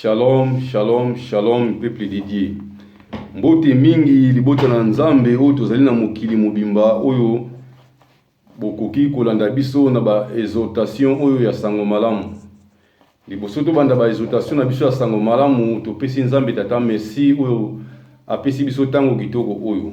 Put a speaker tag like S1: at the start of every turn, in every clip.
S1: Shalom shalom shalom peuple de Dieu, mbote mingi libota na Nzambe oyo tozali na mokili mobimba oyo bokoki kolanda biso na ba exhortation oyo ya sango malamu. Liboso tobanda ba exhortation na biso ya sango malamu, topesi Nzambe Tata merci oyo apesi biso ntango kitoko oyo.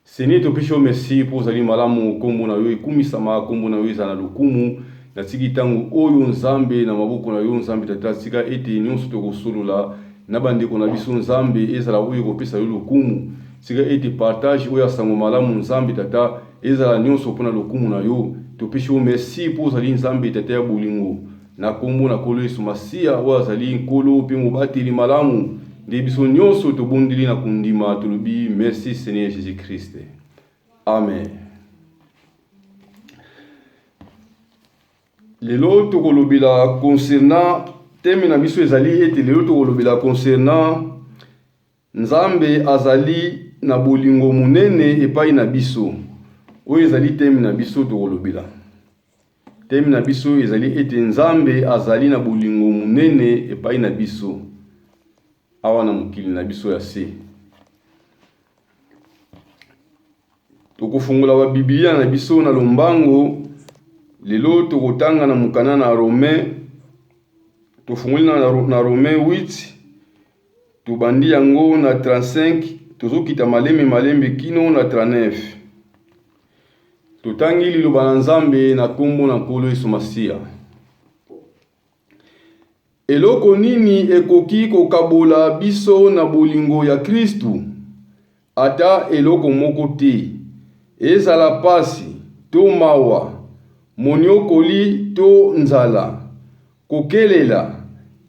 S1: Seigneur topesi yo merci mpo ozali malamu, nkombo na yo ekumisama, nkombo na yo ezala na lokumu. Natiki ntango oyo Nzambe na maboko na yo Nzambe Tata, tika ete nyonso tokosolola na bandeko na biso Nzambe ezala oyo ekopesa yo lokumu. Tika ete partage oyo ya sango malamu Nzambe Tata ezala nyonso mpo na lokumu na yo. Topesi yo merci mpo ozali Nzambe Tata ya bolingo. Na nkombo na Nkolo Yesu Masiya, oyo azali Nkolo mpe Mobateli malamu, nde biso nyonso tobondeli na kondima, tolobi merci Seigneur Jesus Christ. Amen. Lelo tokolobela concernant teme na biso ezali ete lelo tokolobela concernant Nzambe azali na bolingo monene epai na biso. Oyo ezali teme na biso tokolobela. Teme na biso ezali ete Nzambe azali na bolingo monene epai na biso awa na mokili na biso ya se. Tokofungola ba Biblia na biso na lombango lelo tokotanga na mokanda na Romain tofungoli na Romain 8 Tobandi yango na 35, tozokita malembe malembe kino na 39. Totangi liloba na Nzambe na nkombo na Nkolo Yesu Masiya. Eloko nini ekoki kokabola biso na bolingo ya Kristu? Ata eloko moko te, ezala mpasi to mawa, monyokoli to nzala, kokelela,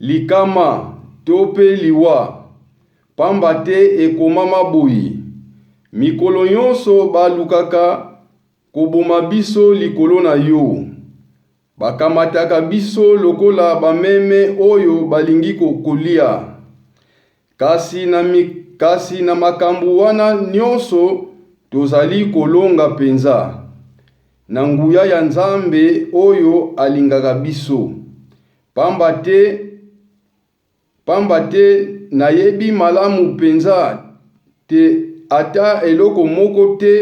S1: likama to mpe liwa. Pamba te ekomama boye, Mikolo nyonso balukaka koboma biso likolo na yo, Bakamataka biso lokola bameme oyo balingi kolia. Kasi na, mi, kasi na makambo wana nyonso tozali kolonga mpenza, na nguya ya Nzambe oyo alingaka biso. Pamba te Pamba te nayebi malamu penza te ata eloko moko te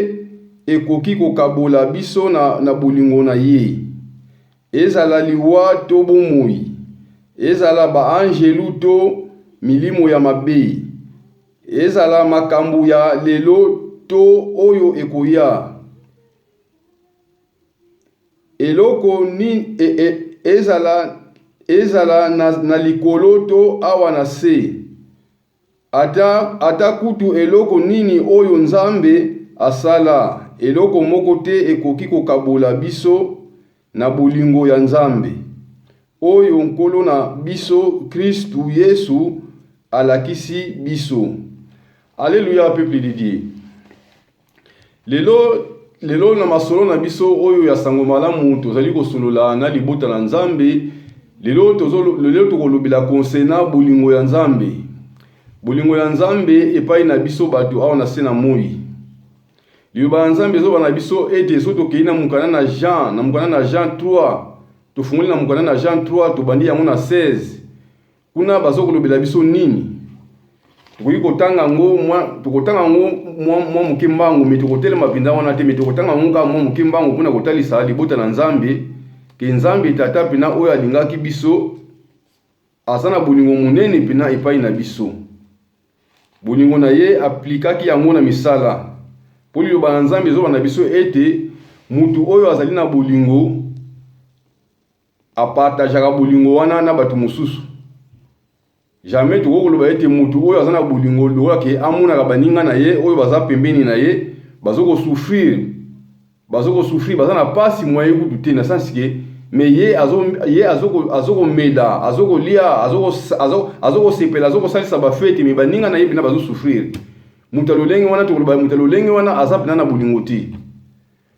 S1: ekoki kokabola biso na bolingo na Ye, ezala liwa to bomoi, ezala ba-anjelu to milimo ya mabe, ezala makambo ya lelo to oyo ekoya. Eloko nini, ezala, ezala na, na likolo to awa na nse, ata, ata kutu eloko nini oyo Nzambe asala, eloko moko te ekoki kokabola biso na bolingo ya Nzambe, oyo Nkolo na biso Kristu Yesu alakisi biso. Aleluya, peuple de Dieu! Lelo, lelo na masolo na biso oyo ya sango malamu tozali kosolola na libota na Nzambe. Lelo tozo lelo tokolobela konsena bolingo ya Nzambe. Bolingo ya Nzambe epai na biso bato awa na se na moi. Liloba ya Nzambe ezoba na biso ete so tokei na mokanda na Jean, na mokanda na Jean 3, tofungoli na mokanda na Jean 3, tobandi yango na 16. Kuna bazo kolobela biso nini? Tokoki kotanga yango mwa tokotanga yango mwa mwa moke mbango me tokotelema mpenza wana te me tokotanga yango kaka mwa moke mbango mpo na kotalisa libota na Nzambe ke Nzambe tata mpena oyo alingaki biso aza na bolingo monene mpena epai na biso. Bolingo na ye aplikaki yango na misala mpo liloba na Nzambe ezoloba na biso ete moto oyo azali na bolingo Apartageaka bolingo wana na bato mosusu. Jamais tokoki koloba ete moto oyo aza na bolingo lokola ke amonaka baninga na ye oyo baza pembeni na ye bazo ko souffrir bazo ko souffrir baza na pasi moyen kutu te na sens ke mais ye azo ye azo azo komela azo kolia azo azo azo kosepela azo kosalisa ba fete mais baninga na ye pena bazo souffrir moto ya lolenge wana tokoloba moto ya lolenge wana aza pena na bolingo te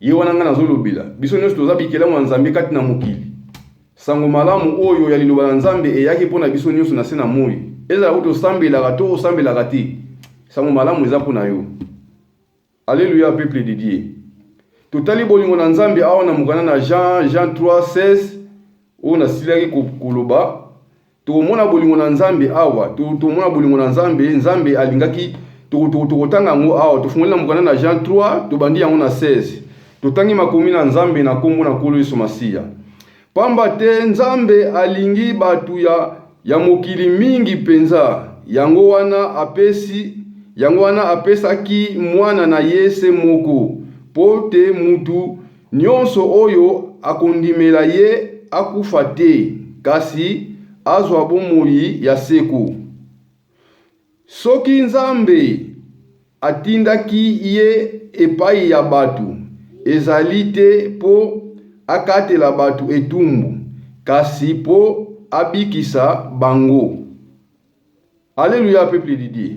S1: Ye wana ngai nazolobela. Biso nyonso toza bikelamu ya Nzambe kati na mokili. Sango malamu oyo ya liloba na Nzambe eyaki mpo na biso nyonso na se na moi. Ezala oyo tosambelaka to osambelaka te, sango malamu eza mpo na yo. Alleluia peuple de Dieu. Totali bolingo na Nzambe awa na mokanda na Jean, Jean 3, 16, oyo nasilaki koloba. Tokomona bolingo na Nzambe awa. Tokomona bolingo na Nzambe. Nzambe alingaki. Tokotanga yango awa. Tofungoli na mokanda na Jean 3, tobandi yango na 16. Totangi makomi na Nzambe na nkombo na Nkolo Yesu Masiya. Pamba te Nzambe alingi bato ya, ya mokili mingi mpenza, yango wana apesi, yango wana apesaki Mwana na Ye se moko, mpo te mutu Nyonso oyo akondimela ye akufa te, kasi azwa bomoi ya seko. Soki Nzambe atindaki ye epai ya bato, ezali te mpo akatela bato etumbu, kasi mpo abikisa bango. Alleluia, peuple de Dieu!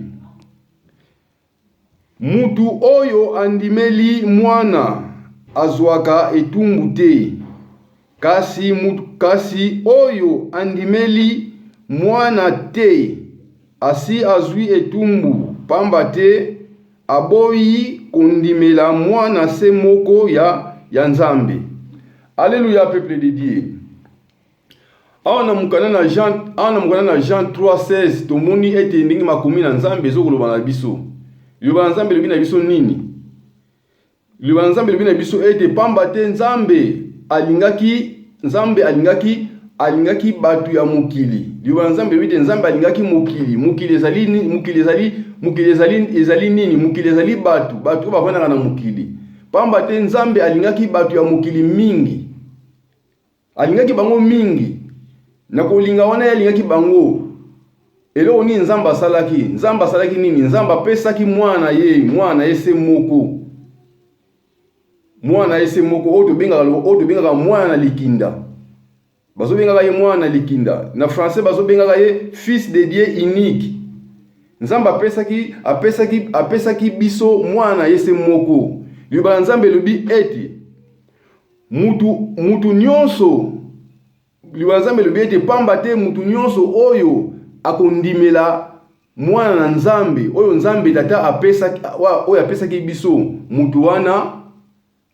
S1: Mutu oyo andimeli Mwana azwaka etumbu te, kasi mutu kasi oyo andimeli Mwana te asi azwi etumbu, pamba te aboyi kondimela Mwana se moko ya ya Nzambe. Alleluia peuple de Dieu awa na mokanda na jean awa na mokanda na jean 316 tomoni ete ndenge makomi na nzambe ezokoloba na biso liloba na nzambe elobi na biso nini liloba na nzambe elobi na biso ete pamba te nzambe alingaki nzambe alingaki alingaki bato ya mokili liloba na nzambe elobi te nzambe alingaki mokili mokili ezali mokili ezali mokili ezali ezali nini mokili ezali bato bato oyo bafandaka na mokili pamba te nzambe alingaki bato ya mokili mingi Alingaki bango mingi. Na kolinga wana ye alingaki bango. Eloko nini Nzambe asalaki? Nzambe asalaki nini? Nzambe apesaki mwana na ye, mwana na ye se moko. Mwana na ye se moko oyo tobengaka oyo tobengaka mwana na likinda. Bazobengaka ye mwana na likinda. Na français bazobengaka ye fils de Dieu unique. Nzambe apesaki apesaki apesaki biso mwana na ye se moko. Liloba na Nzambe elobi ete Mutu, mutu nyonso, Liloba na Nzambe elobi ete pamba te mutu nyonso oyo akondimela Mwana na Nzambe, oyo Nzambe Tata apesaki, oyo apesaki biso, mutu wana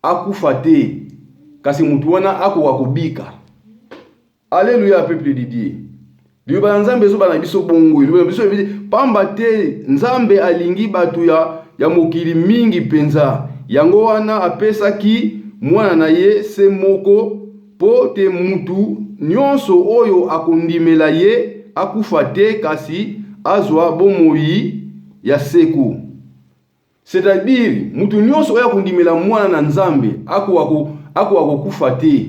S1: akufa te, kasi mutu wana akoka kobika. Alleluia peuple de Dieu. Liloba ya Nzambe ezoba na biso bongo. Liloba na biso ebi pamba te Nzambe alingi bato ya ya mokili mingi mpenza. Yango wana apesaki mwana na ye se moko mpo te mutu nyonso oyo akondimela ye akufa te kasi azwa bomoi ya seko. C'est-à-dire, mutu nyonso oyo akondimela mwana na Nzambe akoka ko akoka kokufa te,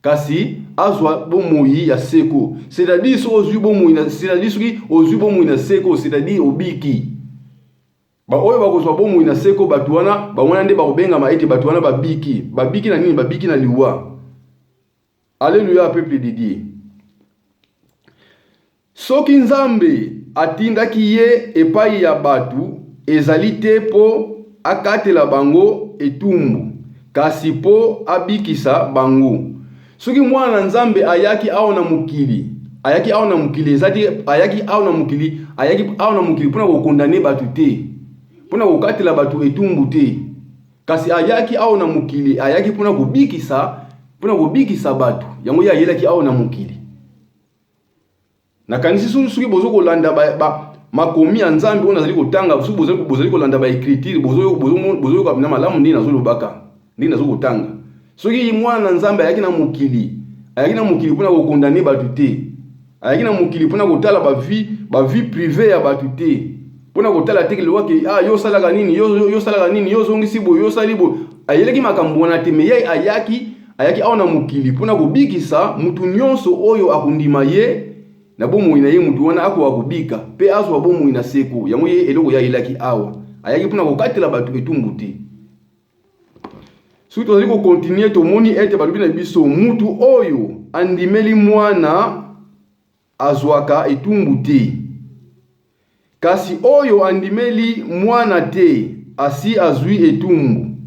S1: kasi azwa bomoi ya seko. C'est-à-dire soki ozwi bomoi na c'est-à-dire soki ozwi bomoi na seko, c'est-à-dire obiki. Baoyo bakozwa bomoi na seko, bato wana bango wana nde bakobengama ete bato wana babiki. Babiki na nini? Babiki na liwa. Alleluia peuple de Dieu. Soki Nzambe atindaki ye epai ya bato, ezali te mpo akatela bango etumbu, kasi mpo abikisa bango. Soki Mwana na Nzambe ayaki awa na mokili, ayaki awa na mokili, ezali ayaki awa na mokili, ayaki awa na mokili mpo na kokondane bato te, mpo na kokatela bato etumbu te. Kasi ayaki awa na mokili, ayaki mpo na kobikisa, mpo na kobikisa bato. Yango ye ayelaki awa na mokili. Nakanisi soki bozo kolanda ba, ba makomi ya Nzambe oyo nazali kotanga, soki bozali, bozali kolanda ba ecriture, bozoyoka na malamu ndenge nazolobaka, ndenge nazo kotanga. Soki mwana na Nzambe ayaki na mokili, ayaki na mokili mpo na kokondane bato te, ayaki na mokili mpona kotala ba vie ba vie prive ya bato te mpona kotala te liwa ke ah yo osalaka nini yo yo osalaka nini yo ozongisi boye yo osali boye ayelaki makambo wana te me ye ayaki ayaki awa na mokili mpona kobikisa moto nyonso oyo akondima ye na bomoi na ye moto wana akoka kobika mpe azwa bomoi na seko yango ye eloko ye ayelaki awa ayaki mpona kokatela bato etumbu te soki tozali kokontinue tomoni ete balobi na biso mutu oyo andimeli mwana azwaka etumbu te kasi oyo andimeli mwana te asi azwi etumbu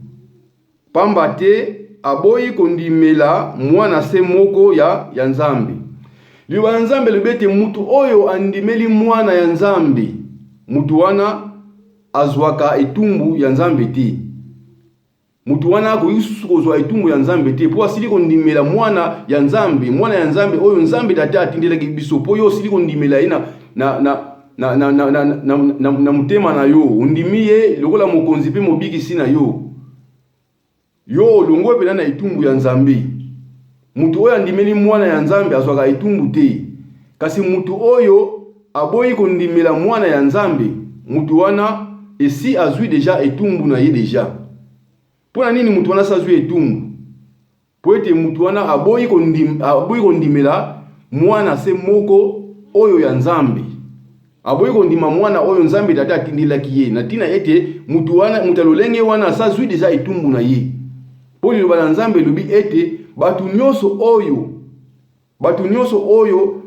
S1: pamba te aboyi kondimela mwana se moko ya, ya nzambe liloba ya nzambe elobi ete mutu oyo andimeli mwana ya nzambe mutu wana Azwaka etumbu ya Nzambe te. Moto wana akoki lisusu kozwa etumbu ya Nzambe te mpo asili kondimela mwana ya Nzambe, mwana ya Nzambe oyo Nzambe Tata atindelaki biso. Mpo yo osili kondimela ye na, na, na, na, na, na, na, na, na, na motema na yo, ondimi ye lokola mokonzi mpe mobikisi na yo. Yo olongwe mpenza na etumbu ya Nzambe. Moto oyo andimeli mwana ya Nzambe azwaka etumbu te, kasi moto oyo aboyi kondimela mwana ya Nzambe, moto wana esi azwi deja etumbu na ye deja. Mpo na nini moto wana asi azwi etumbu? Mpo ete moto wana aboyi kondim, aboyi kondimela mwana se moko oyo ya Nzambe. Aboyi kondima mwana oyo Nzambe Tata atindelaki ye, na tina ete mutu wana, mutu ya lolenge wana asazui deja etumbu na ye. Po liloba na Nzambe elobi ete batu nionso oyo, batu nionso oyo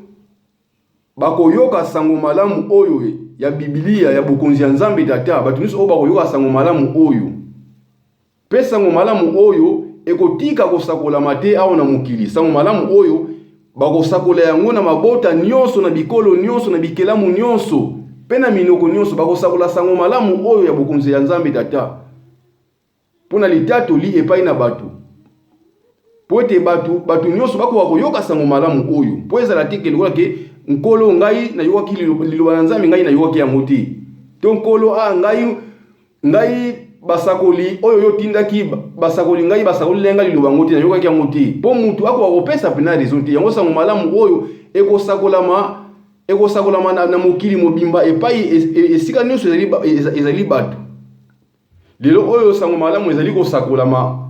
S1: bakoyoka sango malamu oyo ya Bibilia ya bokonzi ya Nzambe Tata, batu nionso oyo bakoyoka sango malamu oyo, Mpe nsango malamu oyo ekotika kosakolama te awa na mokili, nsango malamu oyo bakosakola yango na mabota nyonso, na bikolo nyonso, na bikelamu nyonso, mpe na minoko nyonso. Bakosakola nsango malamu oyo ya bokonzi ya Nzambe Tata mpo na litatoli epai na bato, mpo ete bato bato nyonso bakoka koyoka nsango malamu oyo, mpo ezala te ke lokola ke Nkolo, ngai nayokaki liloba na Nzambe, ngai nayokaki yango te, to Nkolo, a ah, ngai Ngai basakoli oyo yo otindaki basakoli ngai basakoli ngai ngai liloba yango te nayokaki yango te mpo motu akoka kopesa mpena raison te yango sango malamu oyo ekosakolama ekosakolama na, na mokili mobimba epai e, e, esika nyonso ezali, ezali bato lelo oyo sango malamu ezali kosakolama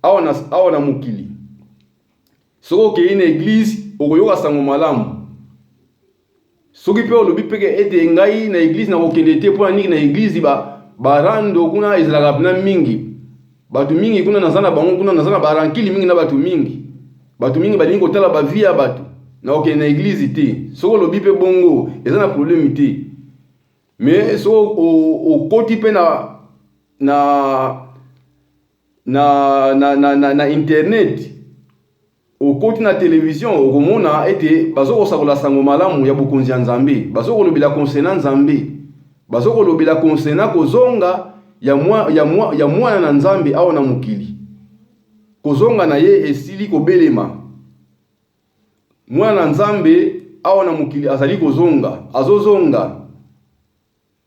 S1: awa na, awa na mokili soki okei na eglize okoyoka sango malamu Soki pe olobi pe ke ete ngai na eglise na kokende te pona niki na eglise ba ba rando kuna ezalaka pna mingi batu mingi kuna naza na bango kuna naza na ba rankili mingi na batu mingi batu mingi balingi kotala ba vie ya batu na kokende na eglise te soki olobi pe bongo eza na probleme te mais soki okoti pe na na na na na na internet Okoti na televizio, okomona ete bazokosakola sango malamu ya bokonzi ya Nzambe, bazokolobela concernant Nzambe, bazokolobela concernant kozonga ya mwa, ya mwa, ya mwana na Nzambe awa na mokili. Kozonga na ye esili kobelema. Mwana na Nzambe awa na mokili azali kozonga, azozonga.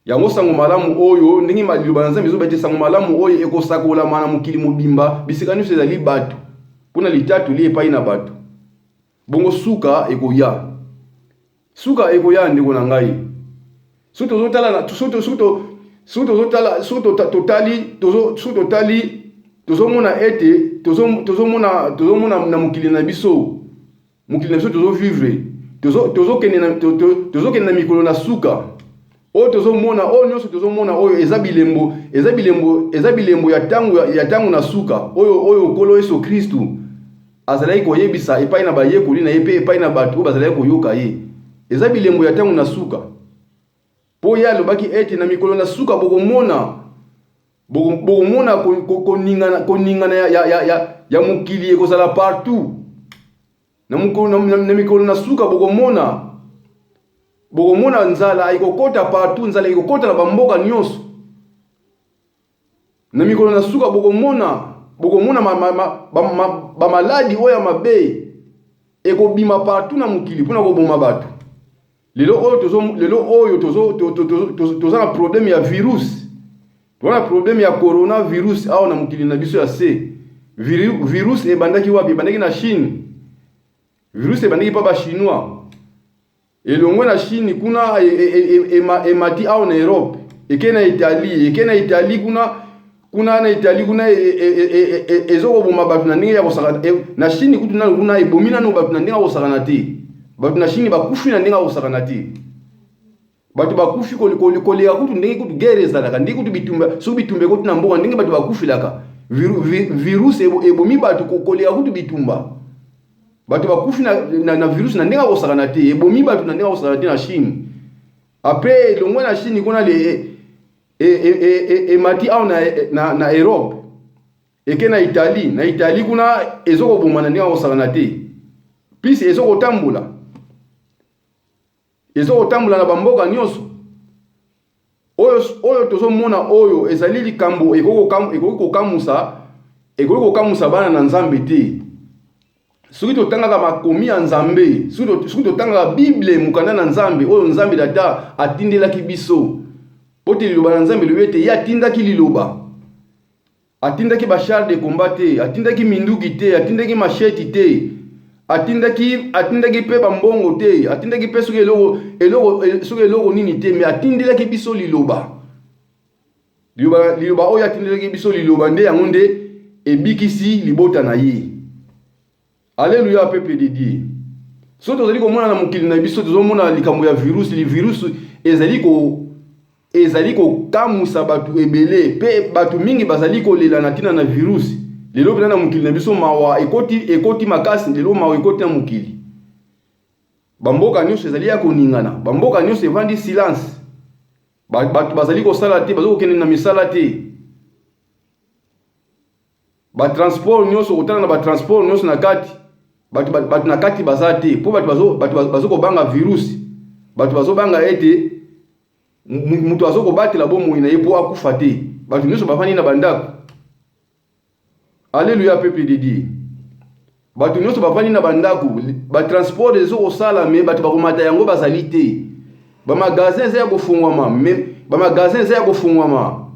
S1: Yango sango malamu oyo, ndenge ma liloba na Nzambe ezoba ete sango malamu oyo ekosakolama na mokili mobimba, bisika nyonso ezali bato, mpo na litatoli epai na bato. Bongo suka ekoya. Suka ekoya, ndeko na ngai. Soki tozotala na soki soki soki tozotala soki totali tozo soki totali tozomona ete tozomona tozomona na mokili na biso mokili na biso tozovivre tozokende na, to, to, tozo na mikolo na suka oyo tozomona oyo nyonso tozomona oyo eza bilembo eza bilembo eza bilembo ya ntango ya ntango na suka oyo oyo nkolo yesu kristu azalaki koyebisa epai na bayekoli na ye mpe epai na bato oyo bazalaki koyoka ye eza bilembo ya ntango na suka Mpo ye alobaki ete na mikolo na suka bokomona bokomona koningana koningana ya, ya, ya, ya, ya mokili ekozala partout na, mokolo, na, na, na mikolo na suka bokomona bokomona nzala ekokota partout nzala ekokota na bamboka nyonso Na mikolo na suka bokomona bokomona bamaladi oyo ya mabe ekobima partout na mokili mpona koboma bato lelo oyo tozo lelo oyo tozo toza na problème ya virus toza na problème ya coronavirus awa na mokili na biso ya se virus ebandaki wapi ebandaki na chine virus ebandaki mpa bachinois Elongwe na Chine kuna emati awa na Europe, eke na Italie, eke na Italie kuna kuna na Italie kuna ezokoboma bato na ndenge ya kosakana na Chine kutu nanu kuna ebomi nanu bato na ndenge ya kosakana te. Bato na Chine bakufi na ndenge ya kosakana te. bato bakufi koleka kutu ndenge kutu guerre ezalaka ndenge kutu bitumba soki bitumba ekoti na mboka ndenge bato bakufelaka virus ebomi bato koleka kutu bitumba bato bakufi na, na, na virus na ndenge akosakana te ebomi bato na ndenge akosakana te na chine apres elongwe na chine kuna le emati e, e, e, e, e awa na, na, na europe eke na italie na italie kuna ezokoboma na ndenge akosakana te plus ezokotambola Ezo kotambola na bamboka nyonso oyo, oyo tozomona oyo ezali likambo ekoki kokamusa, ekoki kokamusa bana na Nzambe te. Soki totangaka makomi ya Nzambe, soki totangaka Bible, mokanda na Nzambe oyo Nzambe Tata atindelaki biso, mpo te liloba na Nzambe elobi ete ye atindaki liloba Atindaki ba chars de combat te, atindaki minduki te, atindaki machette te, atindaki atindaki pe ba mbongo te, atindaki pe soki eloko eloko soki eloko nini te, mais atindelaki biso liloba. Liloba, liloba oyo atindelaki biso liloba nde yango nde ebikisi libota na ye. Alleluia peuple de Dieu. Soki tozali komona na mokili na biso tozomona likambo ya virus, li virus ezali ko ezali kokamwisa bato ebele mpe bato mingi bazali kolela na ntina na virus. Lelo mpenza na mokili na biso mawa ekoti, ekoti makasi, lelo mawa ekoti na mokili. Bamboka nyonso ezali ya koningana, bamboka nyonso evandi silence. Bato bazali kosala te, bazali kokende na misala te. ba transport nyonso kotala na ba transport nyonso na kati bato bato na kati baza te mpo bato bazo bato bazo kobanga virus bato bazobanga ete moto azo kobatela bomoi na ye mpo akufa te bato nyonso bafandi na bandako aleluya pepe de die Bato nyonso bavandi na bandako, batransport ezo kosala me bato bakomata yango bazali te. Bamagazin eza ya kofungwama me bamagazin eza ya kofungwama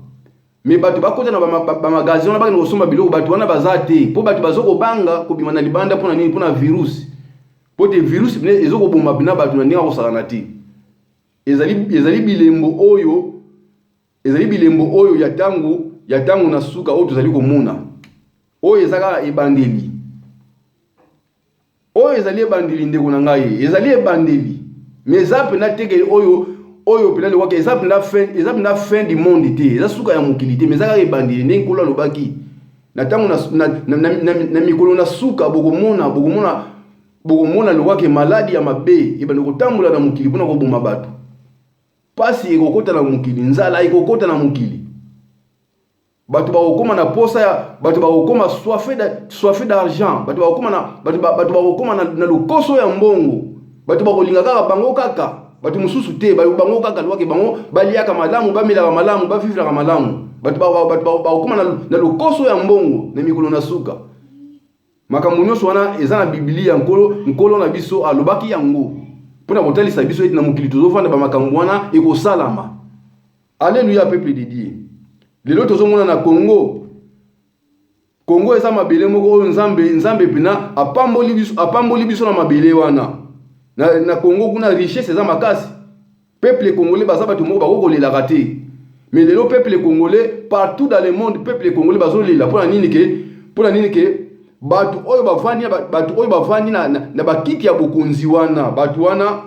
S1: me bato bakota na bamagazin wana bakende kosomba biloko, bato wana baza te mpo bato bazo kobanga kobima na libanda mpo na nini? Mpo na virus, mpo te virus ezo koboma bina bato na ndenge ya kosakana te. Ezali, ezali bilembo oyo Ezali bilembo oyo ya ntango ya ntango na suka oyo tozali komona. Oyo eza kaka ebandeli. Oyo ezali ebandeli, ndeko na ngai, ezali ebandeli. Mais eza mpenza te ke oyo oyo mpenza lokola eza mpenza fin, eza mpenza fin du monde te, eza suka ya mokili te, mais eza kaka ebandeli. Ndenge Nkolo alobaki, na ntango na, na, na, na, na, na mikolo na suka bokomona, bokomona, bokomona lokola ke maladi ya mabe ebanda kotambola na mokili mpo na koboma bato. Pasi ekokota na mokili, nzala ekokota na mokili. Bato bakokoma na posa ya bato bakokoma soife d'argent, bato bakokoma na bato bato bakokoma na, na lokoso ya mbongo. Bato bakolinga kaka bango kaka, bato mosusu te, bango kaka lwake bango baliaka malamu, bamelaka malamu, bavivraka malamu. Bato bakokoma na lokoso ya mbongo na mikolo na suka. Makambo nyonso wana eza na Biblia. Nkolo, Nkolo na biso alobaki yango mpo na kotalisa biso ete na mokili tozofanda bamakambo wana ekosalama. Aleluya, peuple de Dieu. Lelo tozomona na Congo Kongo eza mabele moko oyo Nzambe Nzambe pena apamboli biso apamboli biso na mabele wana na, na Kongo kuna richesse eza makasi Peuple congolais baza bato moko bako kolelaka te. Mais lelo peuple congolais partout dans le monde peuple congolais bazo lela pona nini ke pona nini ke bato oyo bavandi bato oyo bavandi na, na, na bakiti ya bokonzi wana bato wana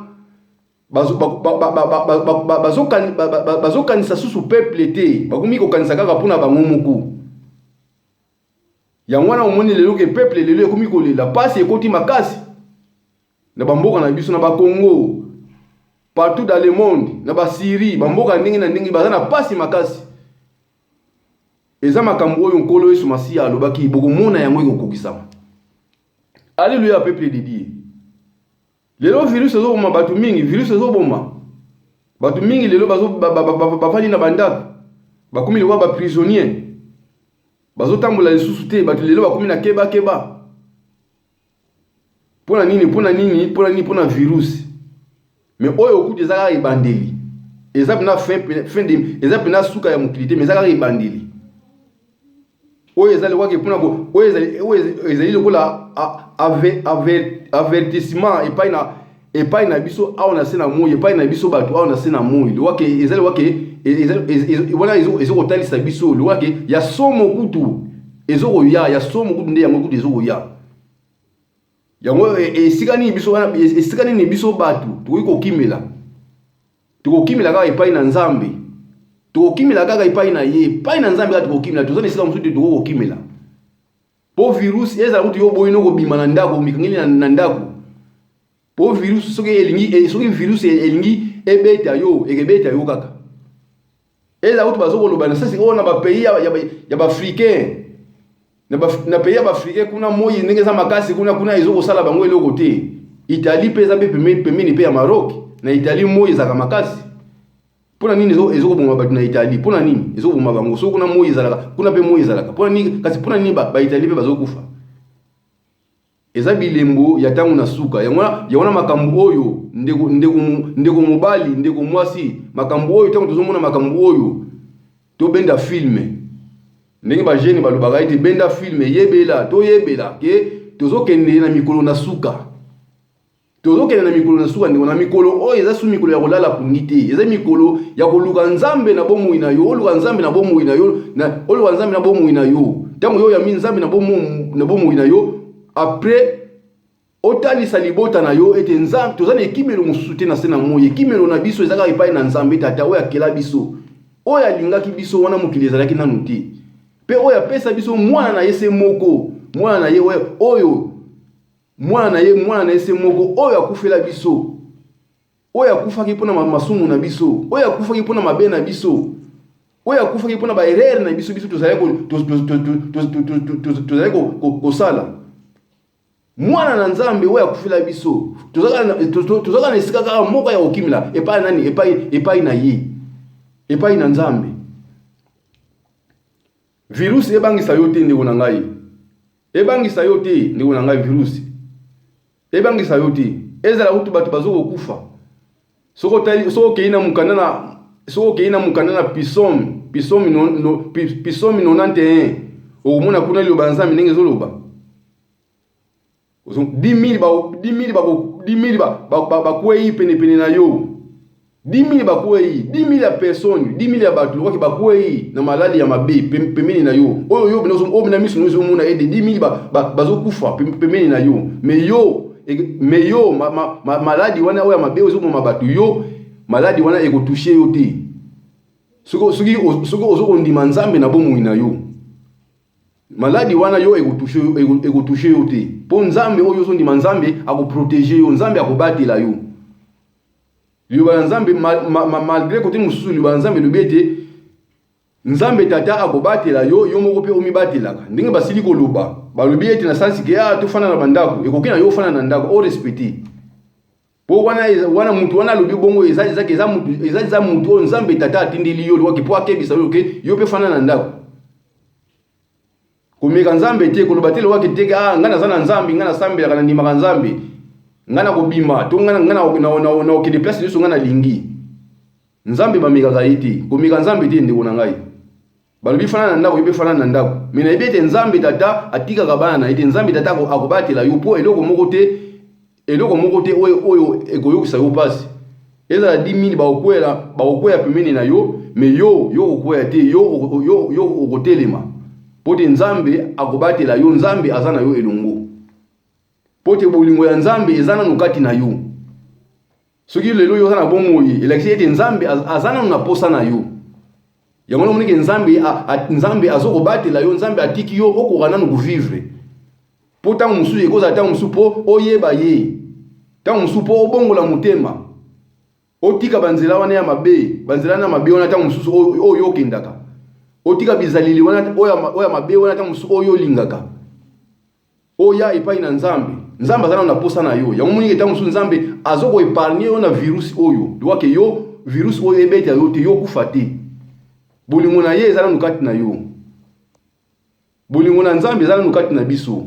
S1: bazokanisa susu peuple te bakomi kokanisa kaka mpona bango moko yango wana omoni lelo ke peuple lelo ekomi kolela mpasi ekoti makasi na ba mboka na biso na ba Congo partout dans le monde na ba Syrie ba mboka ndenge na ndenge baza na pasi makasi eza makambo oyo nkolo Yesu Masiya alobaki bokomona yango ekokokisama Alléluia peuple de Dieu lelo virus ezoboma bato mingi virus ezoboma bato mingi lelo bafandi na bandako bakomi lokola baprisonnier bazotambola lisusu te bato lelo bakomi na kebakeba keba. Pona nini pona nini pona nini pona virus me oyo okuti eza kaka ebandeli eza pena fin, fin de, eza pena suka ya mokili te me eza kaka ebandeli oyo eza lokwaki pona oyo ezali lokola avertissement epai na epai na biso awa na se na moi epai na biso bato awa na se na moi lokola ke ezali lokola ke e, e, e, wana ezo kotalisa biso lokola ke ya somo kutu ezo koya ya somo kutu nde yango kutu ezo koya yango esika nini biso wana esika nini biso bato tokoki kokimela tokokimela kaka epai na nzambe tokokimela kaka epai na ye epai na nzambe kaka tokokimela toza na esika mosusu te tokoki kokimela po virus eza kutu yo boyi noko bima na ndako mikangeli na, na ndako po virus soki elingi eh, soki virus elingi ebeta yo ekebeta yo kaka eza kutu bazo koloba na sasi oyo na ba pays ya, ya, ya ba africain na, ba, na pays ya ba africain kuna moyi ndenge eza makasi kuna kuna ezo kosala bango eloko te Italie pe eza pe pembeni pe ya Maroc na Italie moyi ezaka makasi mpo na nini ezokoboma bato na italie mpo na nini ezokoboma bango soki kuna moi ezalaka kuna mpe moi ezalaka mpo na nini kasi mpo na nini baitalie mpe bazokufa eza bilembo ya ntango na suka yango wana makambo oyo ndeko, ndeko, ndeko mobali ndeko mwasi makambo oyo ntango tozomona makambo oyo tobenda filme ndenge bagene balobaka ete benda filme yebela toyebela ke tozokende na mikolo na suka tozokende na mikolo na suka ndeko na mikolo oyo eza su mikolo ya kolala pungi te eza mikolo ya koluka nzambe na bomoi na yo oluka nzambe na bomoi na yo oluka nzambe na bomoi na yo ntango yo oyambi nzambe na bomoi na yo apres otalisa libota na yo ete nzambe toza na ekimelo mosusu te na se na moi ekimelo na biso eza kaka epai na nzambe tata oyo akela biso oyo alingaki biso wana mokili ezalaki nanu te mpe oyo apesa biso mwana na ye se moko mwana na ye oyo Mwana na ye, mwana na ye se moko, oyo akufela biso, oyo akufaki mpo na masumu na biso, oyo akufaki mpo na mabe na biso, oyo akufaki mpo na baerere na biso biso tozali kosala mwana na nzambe oyo akufela biso tozalaka na esika kaka moko ya kokimela epai nani epai epai na ye epai na nzambe virusi ebangisa yo te ndeko na ngai Ebangisa yo te ndeko na ngai virus. Ebangisa yo te. Ezala kutu bato bazokokufa. Soko tali soko kei na mukanda na soko kei na mukanda na Pisom, Pisom no, no Pisom 91. Okomona kuna liloba Nzambe ndenge ezoloba. 10000 ba 10000 ba 10000 ba bakwei pene pene na yo. 10 000 bakwei, 10 000 ya personne, 10 000 ya bato lokola bakwei na malali ya mabe pembeni na yo. Oyo yo bino oyo na miso ozo mona ede 10 000 ba, ba, bazo kufa pembeni na yo. Mais yo mais yo ma, ma, ma, maladi wana oyo ya mabe ozo boma bato yo maladi wana eko toucher yo te. Soki soki soki ozo kondima Nzambe na bomoi na yo. Maladi wana yo eko toucher eko toucher yo te. Po Nzambe oyo ozo ndima Nzambe ako protéger yo, Nzambe ako batela yo. Liloba na Nzambe, malgre kote mosusu, liloba na Nzambe elobi ete Nzambe Tata akobatela yo, yo moko mpe omibatelaka. Ndenge basili koloba, balobi ete na sansi ke ah, tofanda na bandako, ekoki na yo ofanda na ndako, o respecte po wana wana mutu wana alobi bongo eza eza eza mutu eza eza mutu oyo Nzambe Tata atindeli yo lokola po akebisa yo ke yo mpe fanda na ndako Komeka Nzambe te, koloba te lowa ke te ke ah ngai naza na Nzambe, ngai nasambelaka, nandimaka Nzambe. Ngai nakobima to ngai ngai na na na okende place nyonso ngai nalingi. Nzambe bamekaka ye te. Komeka Nzambe te ndeko na ngai. Balobi fana na ndako, yebe fana na ndako. Mais nayebi ete Nzambe tata atikaka bana na ye te. Nzambe tata akobatela yo po eloko moko te eloko moko te oyo oyo ekoyokisa yo mpasi ezala di mini bakokwela bakokwea pembeni na yo me yo yo okokwea te yo, yo, yo okotelema mpo te nzambe akobatela yo nzambe aza na yo elongo mpo te bolingo ya nzambe eza nano kati na yo soki lelo yo oza na bomoi elakisi ete nzambe aza nanu na posa na yo yango wana omonike nzambe nzambe azokobatela yo nzambe atiki yo okoka nanu kovivre mpo ntango mosusu ekozala ntango mosusu mpo oyeba ye ntango mosusu mpo obongola motema otika banzela wana ya mabe banzela wana ya mabe wana ntango mosusu oyo okendaka otika bizaleli wana oyo ya mabe wana ntango mosusu oyo olingaka Oya epai na Nzambe. Nzambe aza nano na posa na yo. Yango moni etango mosusu Nzambe azo ko epargne yo na virus oyo. Liwa ke yo virus oyo ebeta yo te, yo okufa te. Bolingo na ye eza nano kati na yo. Bolingo na Nzambe eza nano kati na biso.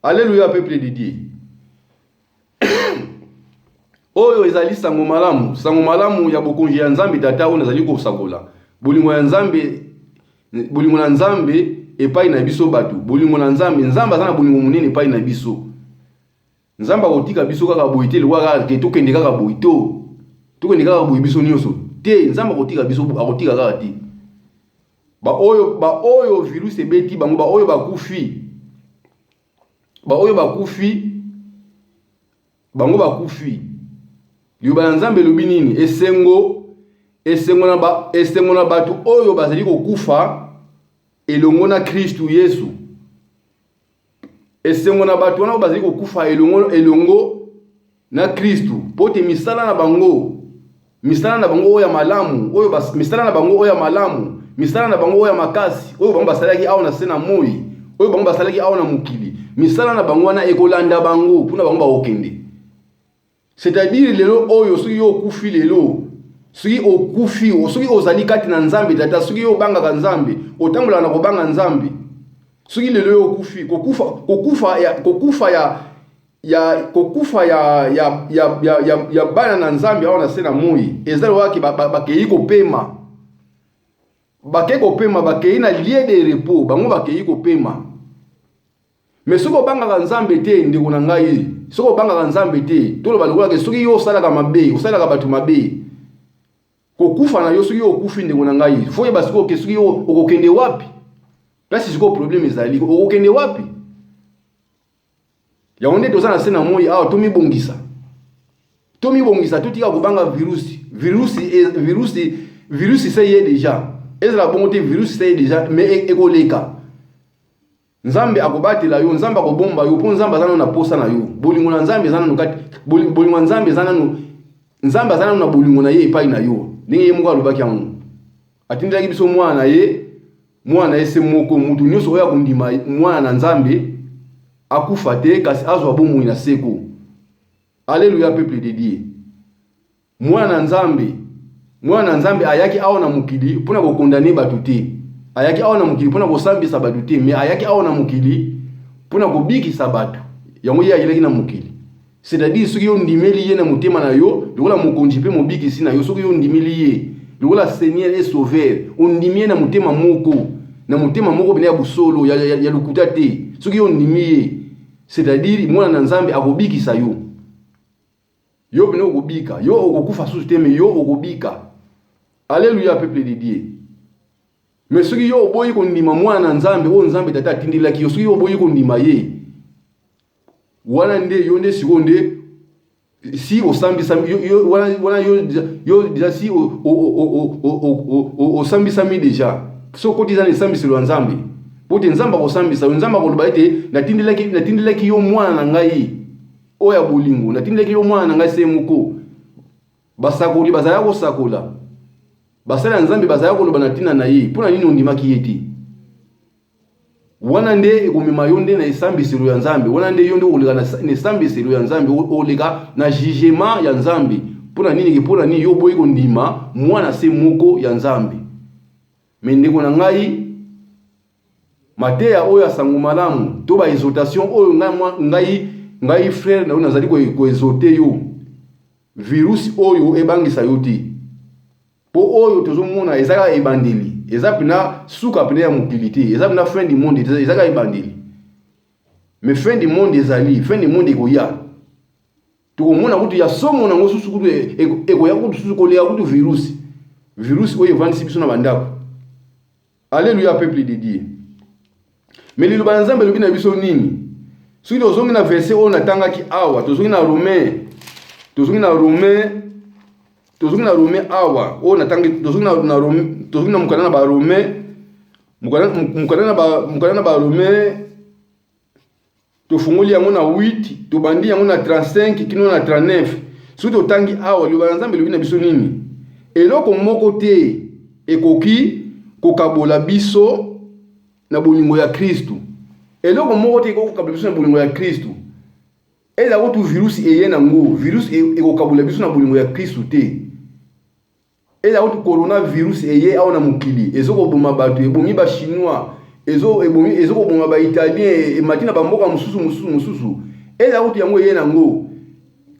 S1: Alleluia peuple de Dieu. oyo ezali sango malamu sango malamu ya bokonzi ya nzambe tata oyo nazali kosakola bolingo ya nzambe bolingo na nzambe epai na biso bato bolingo na nzambe nzambe aza na bolingo monene epai na biso nzambe akotika biso kaka boye te lokola kaka te tokende kaka boye to tokende kaka boye biso nyonso te nzambe akotika biso akotika kaka te baoyo baoyo virus ebeti bango baoyo bakufi baoyo bakufi bango bakufi liloba ya nzambe elobi nini esengo esengo na, ba, esengo na bato oyo bazali kokufa elongo na kristu yesu esengo na bato wana oyo bazali kokufa elongo, elongo na Kristu, mpo te misala na bango, misala na bango oyo ya malamu, oyo bas, misala na bango oyo ya malamu, misala na bango oyo ya makasi, oyo bango basalaki awa na se na moi, oyo bango basalaki awa na mokili, misala na bango wana ekolanda bango kuna bango bakokende. C'est-à-dire lelo oyo soki yo okufi lelo, soki okufi, soki ozali kati na Nzambe tata, soki yo obangaka Nzambe, otambolaka na kobanga Nzambe, soki lelo yo okufi, kokufa, kokufa ya, kokufa ya ya kokufa ya, ya, ya, ya, ya, ya bana na Nzambe awa na se na moi eza lokola ke bakei ba, ba kopema bakei kopema bakei na lie de repos bango bakei kopema me soki obangaka Nzambe te ndeko na ngai soki obangaka Nzambe te toloba lokola ke soki yo osalaka mabe osalaka bato mabe kokufa na yo soki yo okufi ndeko na ngai fo yeba sikoyo ke soki yo okokende wapi place sikoyo probleme ezali okokende wapi yango nde toza na se na moi awa tomibongisa tomibongisa totika kobanga virusi virusi e, virusi virusi se ye deja ezala bongo te virusi se ye deja me e, ekoleka nzambe akobatela yo nzambe akobomba yo mpo nzambe aza nano na posa na yo bolingo na nzambe eza nano kati bolingo ya nzambe eza nano nzambe aza nano na bolingo na ye epai na yo ndenge ye moko alobaki yango atindelaki biso mwana na ye mwana na ye se moko moto nyonso oyo akondima mwana na nzambe akufa te kasi azwa bomoi na seko aleluya peuple de dieu mwana na nzambe mwana na nzambe ayaki awa na mokili mpo na kokondane bato te ayaki awa na mokili mpo na kosambisa bato te me ayaki awa na mokili mpo na kobikisa bato yango ye ayelaki na mokili C'est-à-dire soki yo ndimeli ye na motema na yo lokola mokonzi mpe mobikisi na yo, soki yo ndimeli ye lokola Seigneur et Sauveur, ondimi ye na motema moko, na motema moko pene ya bosolo, ya, ya, ya lokuta te. Soki yo ondimi ye, c'est-à-dire mwana na Nzambe akobikisa yo. Yo pene okobika, yo okokufa susu te, mais yo okobika. Alléluia, peuple de Dieu. Mais soki yo oboyi kondima mwana na Nzambe oyo Nzambe tata atindelaki yo, soki yo oboyi kondima ye, wana nde yo nde sikoyo nde si osambisami yo, yo, wana, wana yo, yo deja si osambisami deja so okoti eza na esambiselo ya nzambe mpo te nzambe akosambisa yo nzambe akoloba ete natindelaki, natindelaki yo mwana na ngai oyo ya bolingo natindelaki yo mwana na ngai se moko basakoli bazala kosakola basali ya nzambe bazala koloba na ntina na ye mpo na nini ondimaki ye te wana nde ekomema yo nde na esambiselo ya nzambe wana nde yo nde okoleka na esambiselo ya nzambe oleka na jugema ya nzambe mpo na nini mpo na nini yo oboyi kondima mwana se moko ya nzambe me ndeko na ngai mateya oyo ya sango malamu to baexotation oyo ngai, ngai, ngai frere na yo nazali koexote yo virusi oyo ebangisa yo te Po oyo tozo mona eza kaka ebandeli, eza pena suka pena ya mokili te, eza pena fin du monde te, eza kaka ebandeli. Mais fin du monde ezali, fin du monde ekoya. Tokomona kutu ya somo nango susu kutu e, e, ekoya kutu susu koleka kutu virus. Virus oyo evandisi biso na bandako. Alleluia peuple de Dieu. Mais liloba ya Nzambe elobi na biso nini? Soki tozongi na verset oyo natangaki awa, tozongi na Romain, tozongi na Romain, tozongi na Romain awa, oyo natangi, tozongi na, na Romain, tozongi na mokanda na ba Romain, mokanda na ba mokanda na ba Romain tofungoli yango na 8 tobandi yango na 35 kino na 39 soki totangi awa liloba na nzambe elobi na biso nini eloko moko te ekoki kokabola biso na bolingo ya kristu eloko moko te ekoki kokabola biso na bolingo ya kristu ezala kutu virusi eye nango virusi e-, ekokabola biso na bolingo ya kristu te Eza kutu corona virus eye awa na mokili ezo koboma bato, ebomi ba chinois, ezo ebomi ezo koboma ba italien, emati na ba mboka mosusu mosusu mosusu. Eza kutu yango eye nango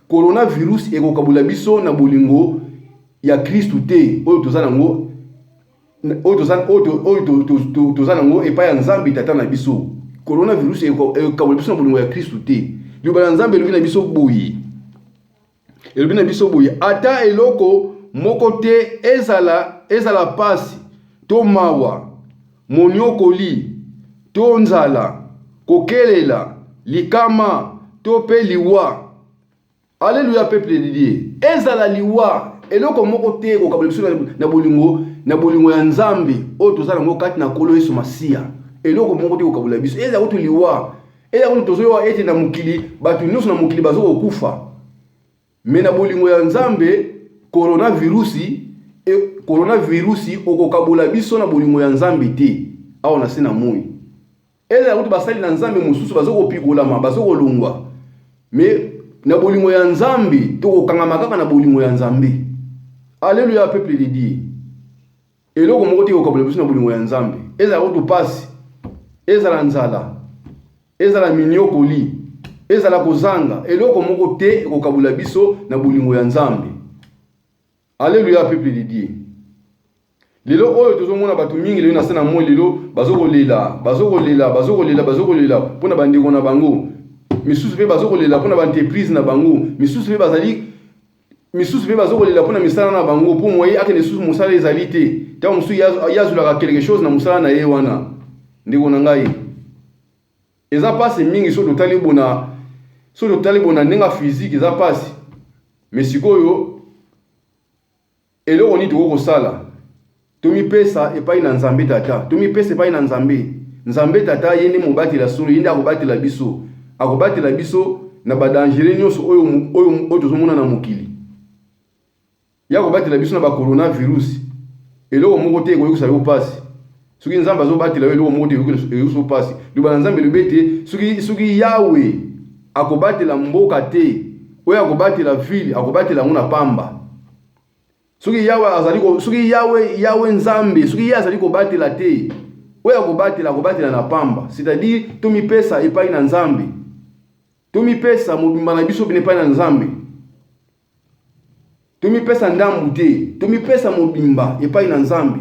S1: corona virus ekokabola biso na bolingo ya Kristu te oyo toza nango oyo toza oyo oyo toza nango epai ya Nzambe Tata na biso. Corona virus ekokabola biso na bolingo ya Kristu te. Liloba na Nzambe elobi na biso boye. elobi na biso boye ata eloko moko te ezala ezala pasi to mawa moniokoli to nzala kokelela likama to mpe liwa Alléluia, peuple de Dieu. Ezala liwa, eloko moko te ekokabela biso na bolingo na bolingo ya Nzambe oyo tozala yango kati na Nkolo Yesu Masiya. Eloko moko te ekokabela biso. Ezala kutu liwa, eya kuni tozoyoka ete na mokili bato nyonso na mokili bazokokufa me na bolingo ya nzambe koronavirusi e, koronavirusi okokabola biso na bolingo ya nzambe te awa na se na moi ezala kutu basali na nzambe mosusu bazokopikolama bazokolongwa me na bolingo ya nzambe tokokangama kaka na bolingo ya nzambe aleluya peuple de dieu Eloko moko te ekokabula biso na bolingo ya Nzambe, ezala kutu mpasi, ezala nzala, ezala minyokoli, ezala kozanga, eloko moko te ekokabula biso na bolingo ya Nzambe. Aleluya, peuple de Dieu. lelo oyo tozomona bato mingi lelo na se na moi lelo bazokolela bazokolela bazokolela bazokolela mpo na bandeko na bango misusu mpe bazokolela mpo na baentreprise na bango misusu mpe bazali misusu mpe bazokolela mpo na misala na bango mpo moye akende lisusu mosala ezali te ntango mosusu ye azwelaka quelque chose na mosala na ye wana ndeko na ngai eza mpasi mingi soki totali bona soki totali bona ndenge ya fizike eza mpasi me sikoyo Eloko nini tokoki kosala? Tomipesa epai na Nzambe Tata. Tomipesa epai na Nzambe. Nzambe Tata ye nde mobateli ya solo, ye nde akobatela biso. Akobatela biso na badangere nyonso oyo, oyo, oyo tozomona na mokili. Ye akobatela biso na bacoronavirus. Eloko moko te ekoyokisa yo mpasi. Soki Nzambe azobatela yo, eloko moko te ekoyokisa yo mpasi. Liloba na Nzambe elobi ete soki, soki Yawe akobatela mboka te, oyo akobatela vile, akobatela yango na pamba. soki yawe azali soki yawe yawe nzambe soki ye azali kobatela te oyo akobatela akobatela na pamba c'est-à-dire tomipesa epai na nzambe tomipesa mobimba na biso bino epai na nzambe tomipesa ndambu te tomipesa mobimba epai na nzambe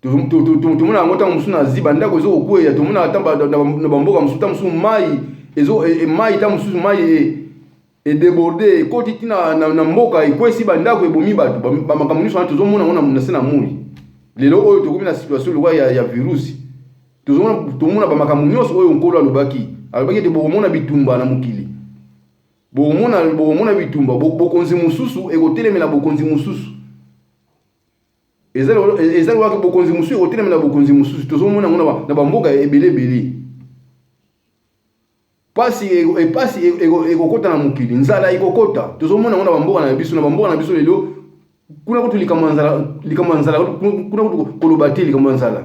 S1: tomonaka yango ntango mosusu na zi bandako ezo kokweya tomonaka ata na bamboka mosusu ntango mosusu mai e, mai ntango mosusu mai e, edeborde ekoti ti na, na, na mboka ekwesi bandako ebomi bato bamakambo nyonso wana tozomona yango na se na moi lelo oyo tokomi na situation lokola ya, ya virusi tomona bamakambo nyonso oyo nkolo alobaki alobaki ete bokomona bitumba na mokili bokomona bokomona bitumba bokonzi mosusu ekotelemela bokonzi mosusu eza lokola bokonzi mosusu ekotelema na bokonzi mosusu tozomona yango na bamboka ebele ebele pasi epasi e, e, e, ekokota na mokili nzala ekokota tozomona yango na bamboka na biso na bamboka na biso lelo kuna kutu likambo ya nzala likambo ya nzala kuna kutu koloba te likambo ya nzala